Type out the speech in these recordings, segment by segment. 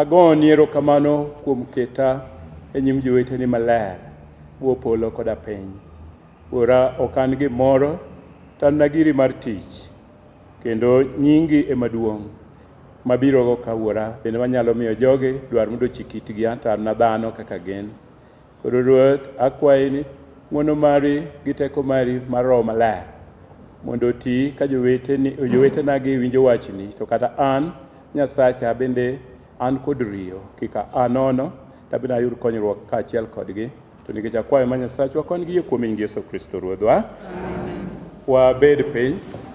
Agoni erokamano kuom keta e nyim joweteni maler, Wuo polo koda piny. Wuora, ok an gimoro, to an na giri mar tich, kendo nyingi ema duong'. Mabirogo ka, Wuora, bende manyalo miyo jogi dwar mondo ochik itgi, anto an na dhano kaka gin. Koro Ruoth, akwayi ni ng'wono mari gi teko mari mar Roho Maler mondo oti ka joweteni- jowetenagi winjo wachni, to kata an, Nyasacha, bende an kod riyo, kik aa nono, to abende ayud konyruok kaachiel kodgi. To nikech akwayo ma Nyasachwa, kony gi yie kuom Nying Yesu Kristo Ruodhwa. Wabed piny.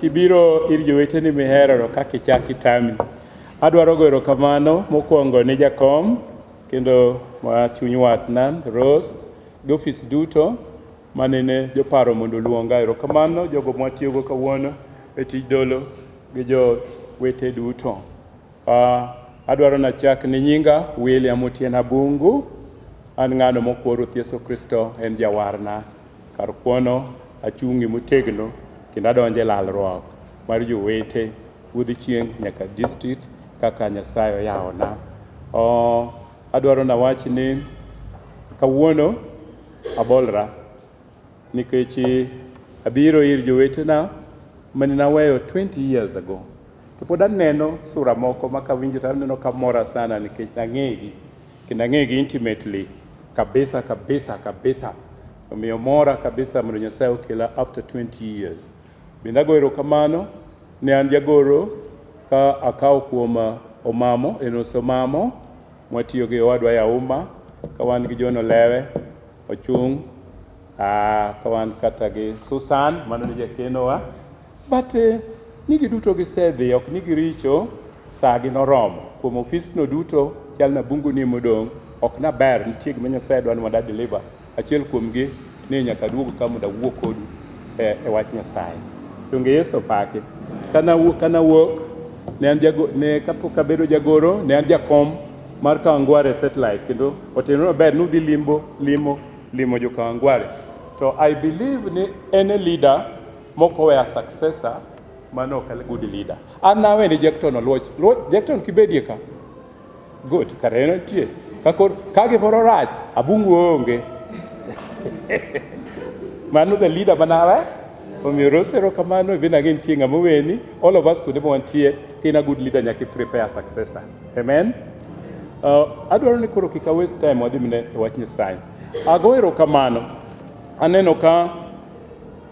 Kibiro ir joweteni miherono kaka ichak itami. Adwaro goyo erokamano mokwongo ne jakom kendo ma chuny watna Rose gi ofis duto manene joparo mondo oluonga. Erokamano jogo mwatiyogo kawuono e tij dolo gi jowete duto. Ah, adwaro nachak ni nyinga William Otieno Abungu. An ng'ano mokwo Ruoth Yesu Kristo en jawarna. Kar kuono, achung'ie motegno kendo adonjo e lalruok mar jowete wuodh chieng' nyaka district kaka Nyasaye oyawona. Oh, adwaro nawach ni kawuono abolra nikech abiro ir jowetena mane naweyo 20 years ago to pod aneno sura moko ma kawinjo to aneno kamora sana nikech nang'egi. kendo ang'egi intimately kabisa kabisa kabisa omiyo mora kabisa mondo Nyasaye okela after 20 years bende ago erokamano ne an jagoro ka akawo kuom uh, omamo en osomamo mwatiyo gi owadwa yauma ka wan gi John Olewe ochung' ah, ka wan kata gi Susan mano ni jakenowa But eh, ni giduto gisedhi, ok ni giricho, saa gi noromo. Kuom ofisno duto, chal na bungu ni modong', ok na ber, nitie gima Nyasaye dwani mondo adeliver. Achiel kuomgi ni nyaka duog ka mondo awuo kodu e, e wach Nyasaye. Donge Yesu opaki? Kana wuok, kana wuok, ne an jago, ne kapok abedo jagoro, ne an jakom mar Kawangware satellite kendo oteno maber ni udhi limbo limo limo jo Kawangware. To I believe ni any leader Moko were successor mano ok good leader. An nawe ni Jackton oluoch. Jackton kibedie ka. Good, kare en tie. Kakor kage moro raj, abungu onge. Mano the leader manawe. Omiyo rosero kamano ibin ang'e nitie ng'ama weni. All of us kuonde mwantie, kain a good leader nyaka prepare successor. Amen. Uh, adwaro ni koro kika waste time wadhi mine wach Nyasaye. Ago erokamano. Aneno ka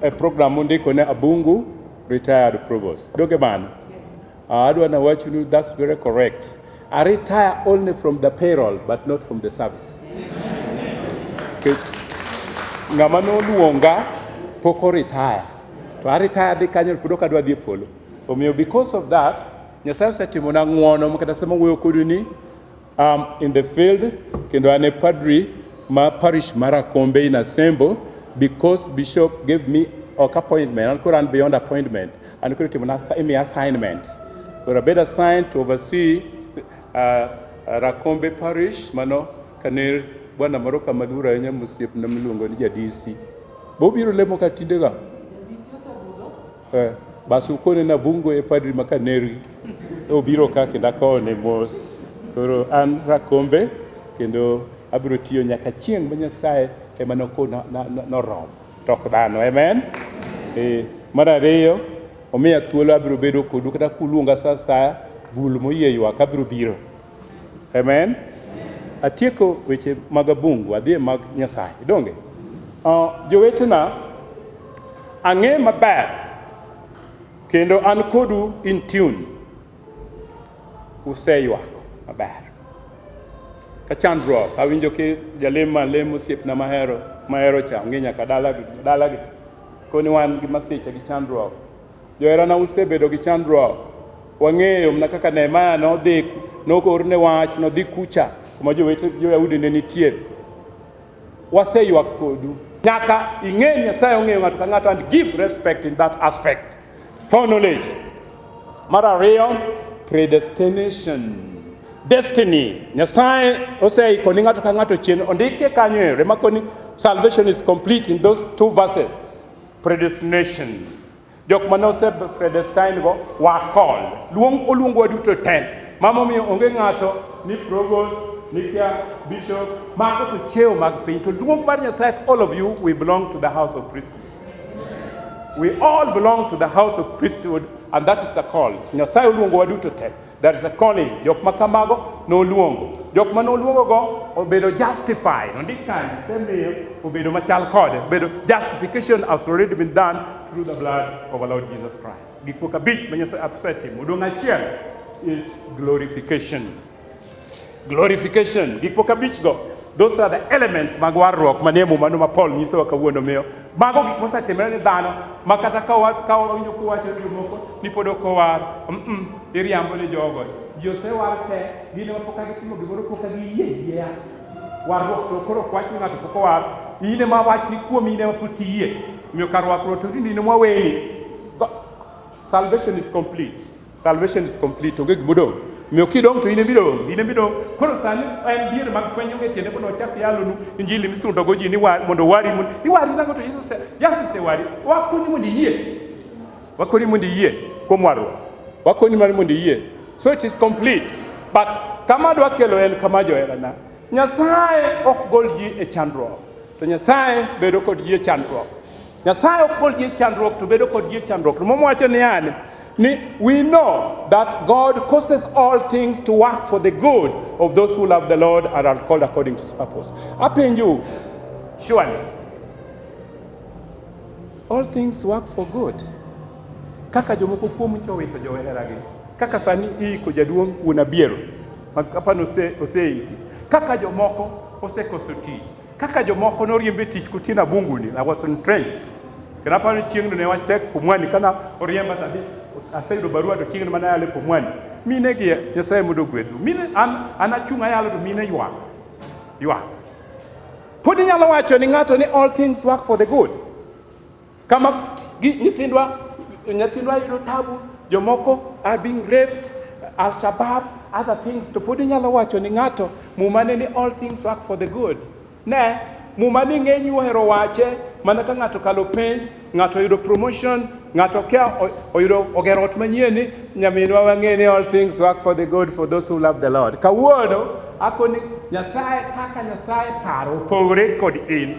E program mundiko ne Abungu retired provost. Doge man. Uh, adwa na wachunu that's very correct. I retire only from the payroll but not from the service. Okay. Ng'ama noluonga poko retire. To a retire di kanyo kudo kadwa dhi e polo. Omiyo because of that Nyasaye osetimona ng'wono makata sama wuoyo kodu ni I'm in the field kendo an e padri ma parish mar Akombe in Asembo because bishop gave me ok appointment an koro an beyond appointment an koro timo imi assignment koro abed assigned to oversee uh, Rakombe parish mano kane bwana moro kama luor ahinya mosiepna miluongo ni jadisi bobiro lemo ka tindega Eh, basi ukone na bungo e padri makanerwi obiro ka kendo akone mos koro an rakombe kendo abiro tiyo nyaka chieng' ma nyasaye ema nokona norom to ok dhano amen eh, mar ariyo omiya thuolo abiro bedo kodu kata kuluonga sa asaya bul moyie ywak abiro biro Amen. Atieko weche mag abungu, adhi e mag Nyasaye. Donge? Uh, jowetena, ang'e maber kendo an kodu in tune. Useywak maber. Ka chandruok, awinjo ki jalemo alemo osiepna mahero mahero cha ong'e nyaka dalagi dalagi. Koni wan gi masiche gi chandruok Joherana usebedo gi chandruok. Wang'eyo mana kaka Nehemia nodhi noorne wach nodhi kucha kuma jowete jo-Yahudi ne nitie. Waseywak kodu. Nyaka ing'e Nyasaye ong'eyo ng'ato ka ng'ato and give respect in that aspect for knowledge. Mar ariyo, predestination destiny nyasaye oseiko ni ng'ato ka ng'ato chien ondike kanyo e rema koni salvation is complete in those two verses predestination jok mane ose predestine go wa call luong oluong wa duto ten mama omiyo onge ng'ato ni provost nikia bishop mago to cheo mag piny to luong mar nyasaye all of you we belong to the house of priesthood we all belong to the house of priesthood and that is the call nyasaye oluongo wa duto ten There is a calling. Jok ma kamago noluongo. Jok ma noluongogo obedo justified. Ondik kanyo, semiyo obedo machal kode. Obedo justification has already been done through the blood of our Lord Jesus Christ. Gik moko abich ma Nyasaye asetimo. Odong' achiel is glorification. Glorification, gik moko abichgo those are the elements mag warruok manie mumano ma Paul nyisowa kawuono miyo mago gik mosetimore ni dhano ma kata ka wawinjo kuwacho ni jomoko ni pod ok owar mm iriambo ni jogo ji osewar te gin ema poka gitimo gimoro poka giyie yieya warruok to koro ok wach ni ng'ato pok owar in ema wach ni kuom in ema pok iyie miyo kar rwakruok to tinde in ema waweni salvation is complete Salvation is complete, onge gima odong'. Miyo kidong' to in ema idong', in ema idong'. Koro sani en dier mag fwenyo onge tiende mondo wachak yalonu injili misundogo ji ni wa- mondo wari mondo iwari nango to Yesu ose- Yesu osewari. Wakonyi mondo iyie. Wakonyi mondo iyie kuom warruok. Wakonyi mar mondo iyie. So it is complete. But kama adwa kelo en kama joherana. Nyasaye ok gol ji e chandruok. To Nyasaye bedo kod ji e chandruok. Nyasaye ok bol ji chandruok to bedo kod ji chandruok. Muma wacho ni yani ni we know that God causes all things to work for the good of those who love the Lord and are called according to his purpose. Apenju surely all things work for good. Kaka jomoko kuom jowito joweheragi kaka sani iiko jaduong' wuon abiero makapano oseiki kaka jomoko osekoso tich Kaka jomoko noriemb e tich kotieno abunguni, I was entrenched. Kendo aparo ni chieng'no ne wach tek Pumwani kana oriemba tadhi aseyudo barua to chieng'no mana yale Pumwani. Mine gi Nyasaye mondo ogwedhu. Mine an an achung' ayalo to mine ywak. Ywak. Pod inyalo wacho ni ng'ato ni all things work for the good. Kama nyithindwa nyithindwa yudo tabu, jomoko are being raped, al shabab, other things to pod inyalo wacho ni ng'ato muma ne ni all things work for the good. Ne muma ni ng'eny ohero wache mana ka ng'ato kalo penj, ng'ato yudo promotion, ng'ato kia oyudo ogero ot manyien ni nyaminwa wang'e ni all things work for the good for those who love the Lord. Kawuono akoni Nyasaye kaka Nyasaye paro opogore kod in.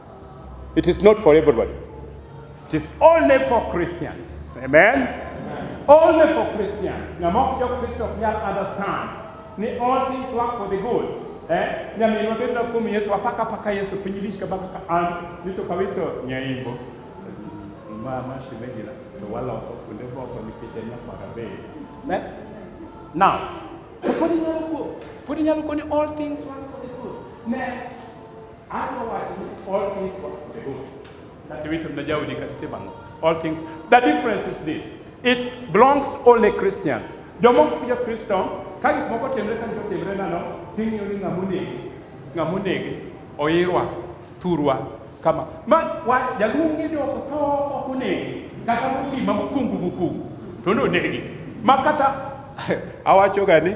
It is not for everybody. It is only for Christians. Amen? Amen. Only for Christians. Now, mock your Christians here understand. Ni all things work for the good. Eh? Na mimi napenda kumi Yesu apaka paka Yesu pinyilisha baka ka an nito kwa wito nyaimbo. Mama shimejila to wala waso kulevo kwa nikitenya kwa rabe. Ne? Eh? Now, putting out good. Putting out good all things work for the good. Ne? All things. The difference is this. It belongs only Christians. Jomoko kuja Kristo, ka gik moko timre ka gik timre nano, ting'iyo ni ng'ama onegi, ng'ama onegi, oirwa, thurwa, kama. Ma wa jaluongi ni ok tho ok onegi, kata mokima mokungu mokungu, to nonegi. Ma kata awachoga ni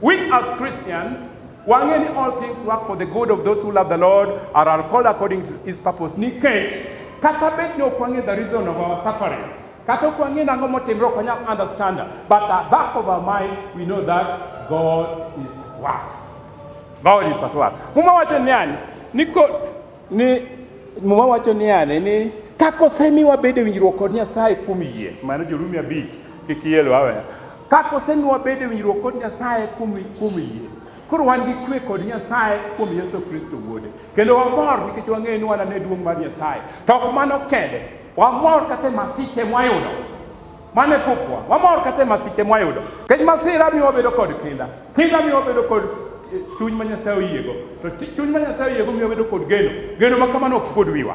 We as Christians wang'e ni all things work for the good of those who love the Lord are are called according to his purpose. Nikech kata bed ni ok wang'e the reason of our suffering, kata ok wang'e nang'o motimre ok wanyal understand, but at back of our mind we know that God is at work. God is at work. Muma wacho niani, niko ni Muma wacho niani ni kakosemiwa bedo winjruok kod Nyasaye kuom yie, mano Jorumi abich, kik ielo awe. Ka kosenwa bedo e winjruok kod Nyasaye kuom kuom yie, koro wan gi kwe kod Nyasaye kuom Yesu Kristo wuode. Kendo wamor nikech wang'eyo ni wanane duong' mar Nyasaye. To ok mano kende, wamor kata e masiche mwayudo. Mane fukwa, wamor kata e masiche mwayudo. Kech masira miyo wabedo kod kinda. Kinda miyo wabedo kod eh, chuny ma Nyasaye oyiego. To chuny ma Nyasaye oyiego miyo wabedo kod geno. Geno ma kamano ok pod wiwa.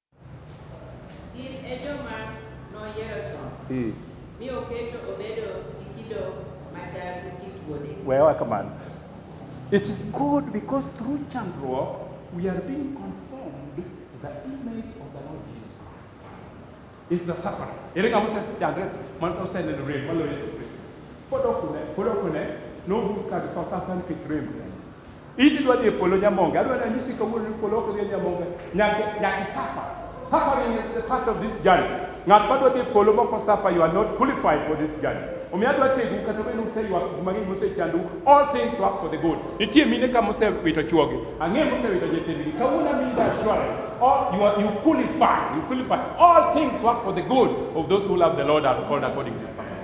Gin e joma noyiero chon. Hmm. Mi oketo obedo gi kido machal gi kit wuode. Wewa kamano. It is good because through chandruok we are being conformed to the image of the Lord Jesus. It's the suffering. Ere ng'ama osechandre man oseneno rem maloyo Yesu Kristo. Pod ok une, pod ok une, nogur ka githo kata nikech rem. Iti dwa dhi e polo Nyamonge. Adwa nanyisi kawuono ni polo ok dhi e Nyamonge. Nyaka nyaka isafa. Suffering is a part of this journey. Ng'at ma dwa dhi e polo mok osafa, you are not qualified for this journey. Omiyo adwa tegu kata bed useywak gik mang'eny mosechandou, all things work for the good. Nitie mine ka mosewito chwogi, ang'e mosewito nyithindgi. Kawuono amiyi the assurance, all you are you qualify, you qualify. All things work for the good of those who love the Lord and are called according to his purpose.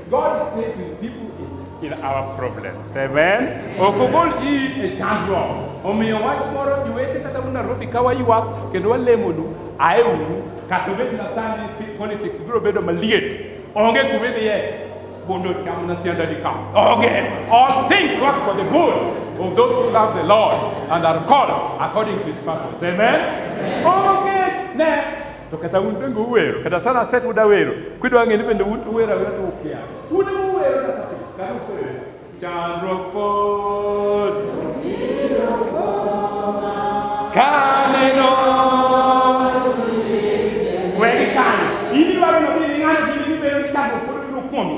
God is faced with people in, in our problems. Amen. Okogol ji e chandruok. Omiyo wach moro iwete kata un Nairobi ka waywak kendo walemonu ae uru kata obed na sani politics biro bedo maliet. Onge kuma idhiye bondo cham na sianda di kam. Onge. All things work for the good of those who love the Lord and are called according to his purpose. Amen. Onge ne To kata un bende uwero, kata sana aset uda wero, kidwa ng'e ni bende un uwero awera to ukia. Un uwero na kata kata usewero. Chandruok pod. Kaneno. Wedi kanyo. Ini waro nodhi ni ng'ato gini gibero ni chandruok pod biro kuomi.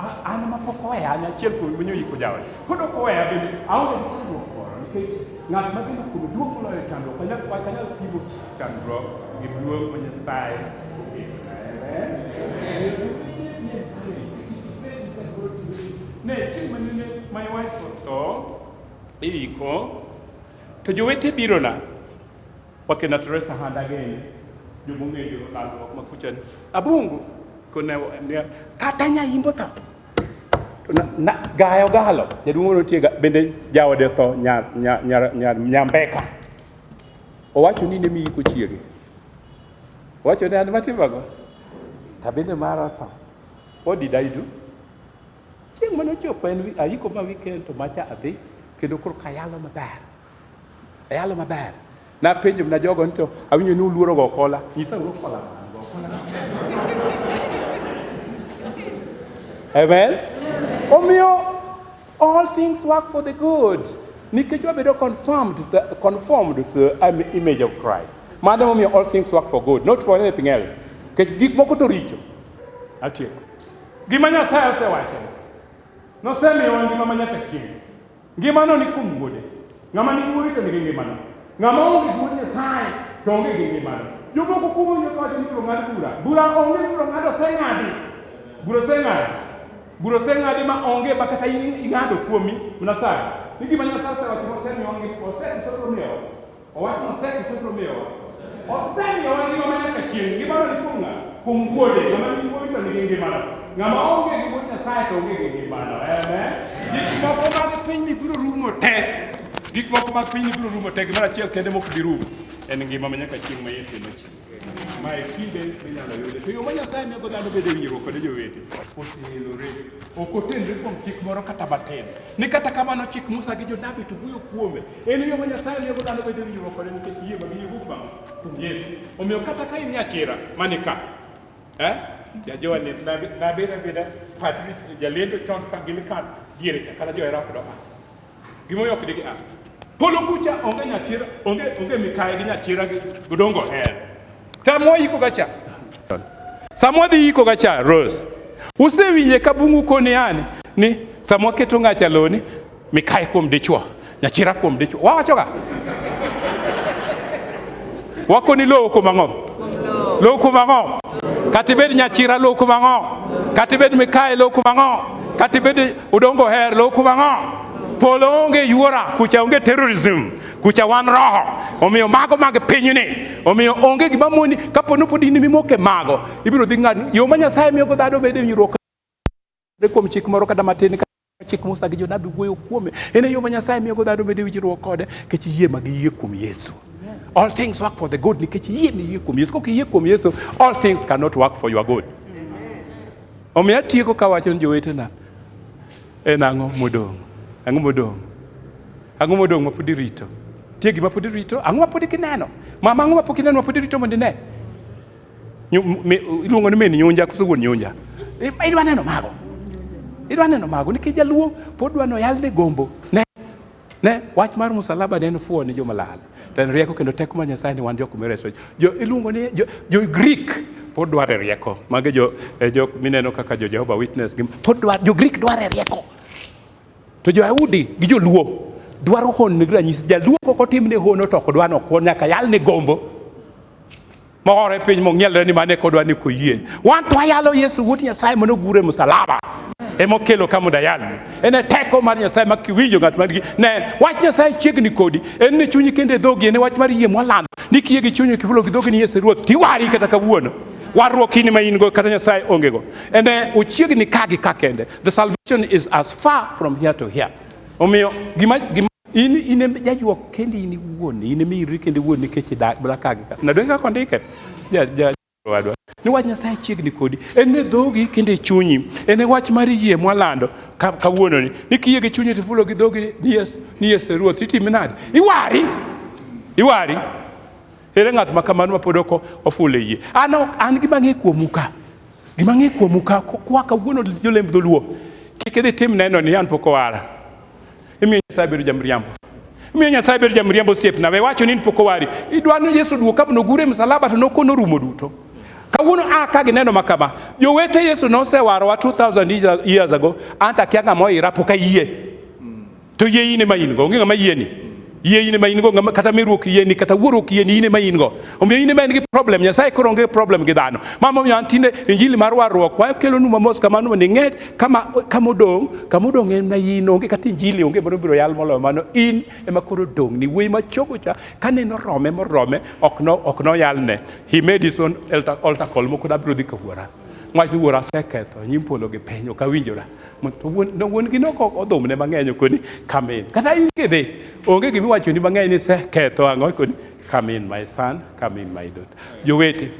An ma pok oweya an achiel kuom winyo yiko jawe. Pod ok oweya bende aonge gi chandruok moro nikech ng'at ma geno kuome duong' moloyo chandruok. Kanyal kwa kanyal pimo chandruok gi duong' ma Nyasaye oketo. Amen. Ne chieng' ma nene my wife otho iyiko to jowete birona Wake na Teresa handa gene jomo ngejo lalruok ma kucha abungu kone ne kata nya imbo tho to na, na gayo galo jaduong moro nitie ga- bende jaode tho nya nya nya, nya, nya mbeka owacho ni ne mi iko chiege owacho ni an matimago ta bende mara tho what did I do chieng' mane ochopo en wi- ayiko ma weekend to macha adhi kendo koro kayalo maber Ayalo maber. Napenjo mna jogo nito awinjo ni uluoro go kola. Nyisa uru kola. Amen. Omiyo all things work for the good. Nikech wabedo confirmed the, conformed to the um, image of Christ. Madam omiyo all things work for good, not for anything else. Nikech gik moko to richo. Atieko. Gima Nyasaye osewacho. Nosemiyowa ngima ma nyaka chieng'. Ngimano ni kuom wuode. Ng'ama ni wuode to nigi ngimano. Ng'ama onge gi wuod Nyasaye to onge gi ngimano. Jomoko kuom wuod Nyasaye ni biro ng'ad bura. Bura onge biro ng'ad oseng'adi. Bura oseng'adi. Bura oseng'adi ma onge ma kata ing'ado kuomi Nyasaye. Ni gima Nyasaye osewacho osemiyo osemiyo Owacho oseke sotro miyowa. Osemiyowa ngima ma nyaka chieng'. Ngimano ni kuom ng'a? Kuom wuode. Ng'ama nigi wuode to nigi ngimano. Ng'ama onge gi wuod Nyasaye to onge gi ngimano. Amen. Gik moko mag pinyni biro rumo te. Gik moko mag pinyni biro rumo te. Gimoro achiel kende mok bi rumo en ngima ma nyaka chieng' ma Yesu ema chieng'. mae kinde minyalo yude to yo ma nyasaye miyogo dhano bedo e winjruok kode jowete oseelore ok otenre kuom chik moro kata matin ni kata kamano chik musa gi jonabi to wuoyo kuome en yo ma nyasaye miyogo dhano bedo e winjruok kode nikech yie ma giyiego kuom kuom yesu omiyo kata ka in nyachira mani ka eh? jajowa ni nabeda beda patri jalendo chon ka gini ka diere cha kata johera kudoka Gimoyo ok digi a. Polo kucha onge nyachira, onge onge mikaye gi nyachira gi gudongo her. Tamo yiko gacha. Samwa dhi yiko gacha Rose. Usewinje ka bungu koni ani ni samwa keto ngacha loni mikaye kuom dichwo, nyachira kuom dichwo. Wawacho ga. Wako ni lowo kuom ang'o? Lowo kuom ang'o? Katibed nyachira lowo kuom ang'o? Katibed mikaye lowo kuom ang'o? Katibed Udong koher lo kuba ng'o? Polo onge yuora, kucha onge terrorism, kucha wan roho. Omiyo mago mag pinyni. Omiyo onge gima moni kapo ni pod in mimoke mago, ibiro dhi ng'ad yo ma Nyasaye miyo go dhano bedo e winjruok kuom chik moro kata matin chik Musa gi jonabi wuoyo kuome. En e yo ma Nyasaye miyo go dhano bedo e winjruok kode nikech yie ma giyie kuom Yesu. All things work for the good nikech yie miyie kuom Yesu. Kok iyie kuom Yesu, all things cannot work for your good. Omiyo atieko kawacho ni jowetena, en ang'o modong'? Ang'o modong'? Ang'o modong' ma pod irito? Tie gima pod irito, ang'o ma pod gineno? Mama, ang'o ma pok ineno ma pod irito mondo ine? Nyu- mi- Iluongo ni min nyunja koso wuon nyunja? I- Idwa neno mago? Idwa neno mago nikech jaluo pod dwa noyalne gombo. Ne Ne, wach mar musalaba ne en fuwo ne joma lal. To en rieko kendo teko mar Nyasaye ni wan jok mireso. Jo iluongo ni jo, jo Greek pod dware rieko. Mage jo eh, jok mineno kaka jo Jehovah Witness gi pod dwar jo Greek dware rieko. To jo Yahudi gi jo Luo dwaro hon ne ranyisi. Jaluo kok otimne hono to ok dwano kuon nyaka yalne gombo. Mohore piny mong'ielre ni mane kodwa ni koyie. Wan to ayalo Yesu wuod Nyasaye mondo ogure musalaba. Emo kelo kamo dayalo. En e teko mar Nyasaye ma kiwinjo ng'at man gi ne wach Nyasaye chiegni kodi. En ne chunyi kendo e dhogi en e wach mar yie mwalando. Ni kiye gi chunyi kifulo gi dhogi ni Yesu Ruoth tiwari kata kawuono. Warruok in ma in go kata Nyasaye onge go. En e ochiegni ka gi ka kende. The salvation is as far from here to here. Omiyo gima gima In in em jajuok kendi in iwuon, in emi iri kendi iwuon nikech idak mana ka gi ka. Na donge kaka ondike? Ja ja wadwa. Ni wach Nyasaye chiegni kodi. En e dhogi kendo e chunyi. En e wach mar yie mwalando ka- kawuono ni. Ni kiyie gi chunyi tifulo gi dhogi ni yes ni yes e ruoth itimi nade? Iwari. Iwari. Ere ng'at ma kamano ma pod ok ofulo e yie? An ok an gima ng'e kuomu ka. Gima ng'e kuomu ka kwa kawuono jolemb dholuo. Kik idhi tim neno ni an pok owara. Imiyo Nyasaye bedo jamriambo. Imiyo Nyasaye bedo jamriambo osiepna. We wacho ni in pok owari. Idwa ni Yesu duog kabno ogure msalaba to nokono rumo duto. Kawuono a ka gineno ma kama. Jowete Yesu nosewarowa 2000 years ago. Anta kia ng'ama oira pok ayie. To yie in ema in go. Onge ng'ama yieni. Yie in ema in go kata meruok yieni kata wuoruok yieni in ema in go. Omiyo in ema in gi problem, Nyasaye koro onge problem gi dhano. Mama omiyo an tinde injili mar warruok wayo kelo nu mamos kamano mondo ing'e kama kama odong, kama odong en ma in onge kata injili onge moro biro yal moloyo mano in ema koro odong ni wuoyi machogo cha kane norome morome ok no ok no yalne. He made his own altar, altar call moko da biro dhi ka wuora. Ng'at wuora aseketho nyim polo gi piny ok awinjora. To wuon no wuon gi nok odhumne mang'eny okoni kamin. Kata in kidhi onge gima iwachoni mang'eny ni iseketho ang'o ikoni Come in my son, come in my daughter. Jowete,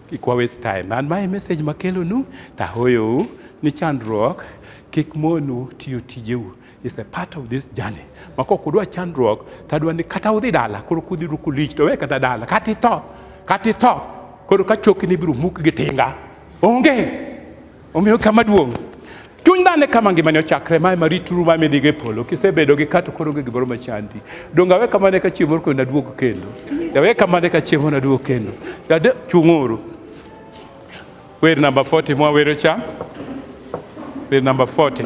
kik wa waste time. An mae message makelonu tahoyou ni chandruok kik monu tiyo tijeu is a part of this journey ma kok udwa chandruok to adwa ni kata udhi dala koro kudhi ruku lich to we kata dala kata itho kata itho koro ka chokni ibiro muk gi tinga onge Omiyo kama duong' chuny dhano e kama ngimane ochakre mae marituru ma midhigo e polo kisebedo gi kato koro onge gimoro machandi donge awe kamane ka chieng' moro kendo naduog kendo dawe kamane ka chieng' moro naduog kendo dade chung'uru wer namba 40 mwawero cha wer namba 40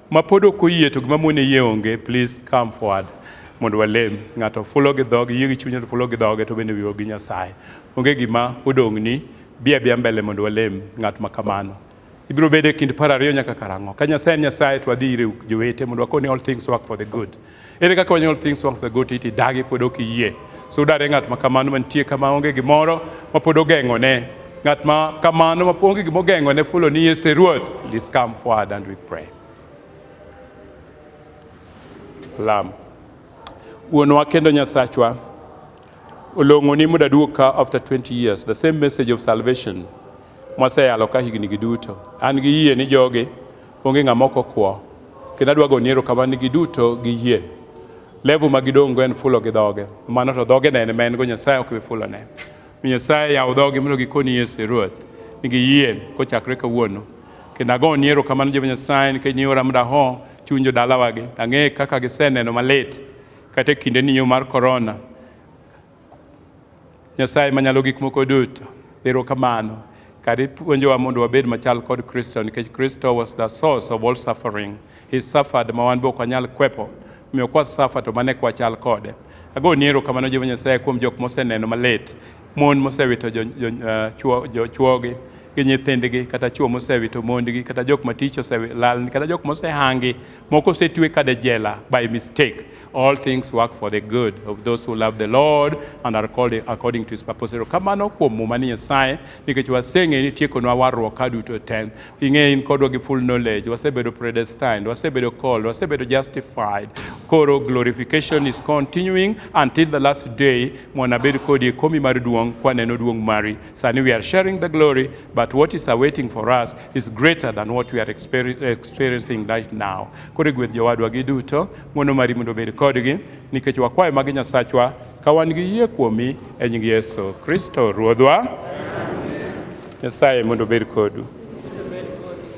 Ma pod ok oyie to gima mone yie onge, please come forward mondo walem. Ng'ato fulo gi dhoge, yie gi chunye to fulo gi dhoge to bende wiwa gi Nyasaye. Onge gima odong'ni, bi abia mbele mondo walem ng'at ma kamano. Ibiro bedo e kind par ariyo nyaka karang'o? Ka Nyasaye en Nyasaye to wadhi ire jowete mondo wakone all things work for the good. Ere kaka wanyuol things wang' the goat iti dagi pod ok iyie. So udare ng'at ma kamano mantie kama onge gimoro ma pod ogeng'o ne. Ng'at ma kamano ma onge gima ogeng'o ne fulo ni Yesu e Ruoth. Please come forward and we pray. Lam. Wuonwa kendo Nyasachwa, olong'o ni muda duog ka after 20 years, the same message of salvation mwaseyalo ka higni gi duto. An gi yie ni jogi Onge ng'ama ok okwo. Kendo adwa goni erokamano ni giduto giyie. Level ma gidong'go en fulo gi dhoge. Mano to dhoge ne en ma en go Nyasaye ok bi fulone. Mi Nyasaye yaw dhogi mondo gikoni Yesu e Ruoth. Ni giyie kochakre kawuono. Kendo agoni erokamano Jehova Nyasaye nikech niora mondo aho chuny jodalawagi. Ang'e kaka giseneno malit kata e kindeni yo mar korona. Nyasaye manyalo gik moko duto, erokamano kar ipuonjowa mondo wabed machal kod Kristo nikech Kristo was the source of all suffering. He suffered ma wan be ok wanyal kwepo. Omiyo kwa suffer to mane kwa chal kode. Ago ni erokamano Jehova Nyasaye kuom jok moseneno malit, mon mosewito jo, jo, uh, chuo, jo, chuogi gi nyithindgi kata chuo mosewito mondgi kata jok matich oselal kata jok mosehangi moko osetwe kada jela by mistake All things work for the good of those who love the Lord and are called according to his purpose. Kamano kuom muma ni Nyasaye nikech waseng'e ni tiekonwa warruok ka duto te. Ing'e in kodwa gi full knowledge, wasebedo predestined, wasebedo called, wasebedo justified. Koro glorification is continuing until the last day mwanabed kodi komi mar duong' kwaneno duong' mari. Sani we are sharing the glory but what is awaiting for us is greater than what we are experiencing right now. Koro gweth jowadwa gi duto, ng'wono mari mondo obed kodgi, nikech wakwayo magi Nyasachwa, ka wan gi yie kuomi e nying Yesu Kristo Ruodhwa. Nyasaye mondo obed kodu.